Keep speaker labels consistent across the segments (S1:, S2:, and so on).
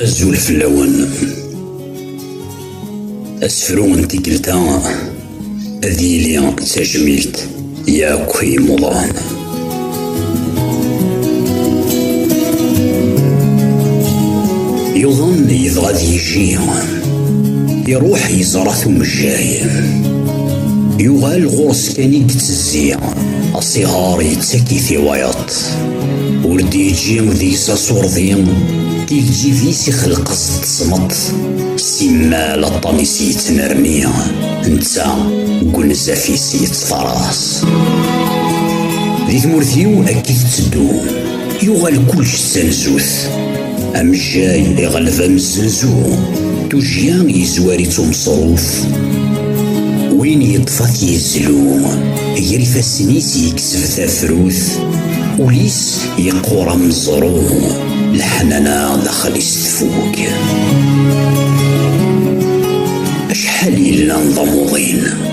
S1: azul fell-awen asefru n tikkelt-a ad yili d tajmilt Yakk i yimuḍan. Yuḍen yebɣa ad yejji. Iruḥ yeẓra-t umejjay. Yuɣal ɣur-s kan i yettezzi. Asiɣar yettak-it i wayeḍ. Ur d-yeǧǧi deg-s asurdi. Tigeǧǧit-is ixelq-as tesmeṭ. Simmal aṭṭan-is yettnerni. Netta deg unzaf-is Teɣras. Di tmurt-iw akka i tetteddu, yuɣal kullec d tanzut. Amejjay iɣleb amezzenzu, tujjya yezwar-itt umeṣruf. Win yeṭṭef ad t-yezlu, gar ifassen-is yekseb tafrut, ul-is yeqqur ameẓru, leḥnana daxel-is tfuk. Acḥal yellan d amuḍin.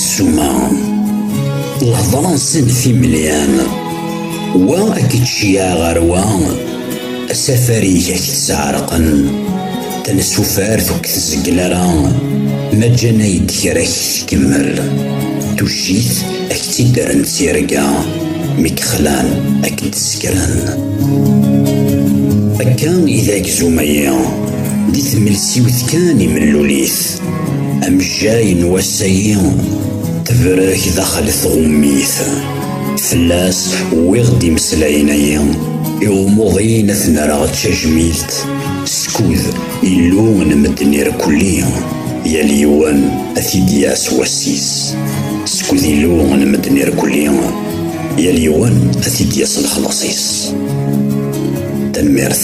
S1: Ssuma, lehḍra-nsen d timelyam, wa ad k-id-ceyyeɛ ɣer wa, asafar-ik ad k-id-sɛerqen, tansufart ur k-tzeggel ara, ma ǧǧan-ak-d kra ad k-tkemmel, tuccit ad k-tt-id-rren d tirga, mi k-xlan ad k-d-ssekren. Akka i d agzum-agi, di tmelsiwt kan i mellul-it. Amejjay n wass-agi tebrek daxel tɣummit. Fell-as wwiɣ-d imeslayen-agi i umuḍin ad ten-rreɣ d tajmilt skud Illu n medden irkelli yal yiwen ad t-id-yas wass-is. Skud Illu n medden irkelli yal yiwen ad t-id-yas lexlaṣ-is. Tanemmirt.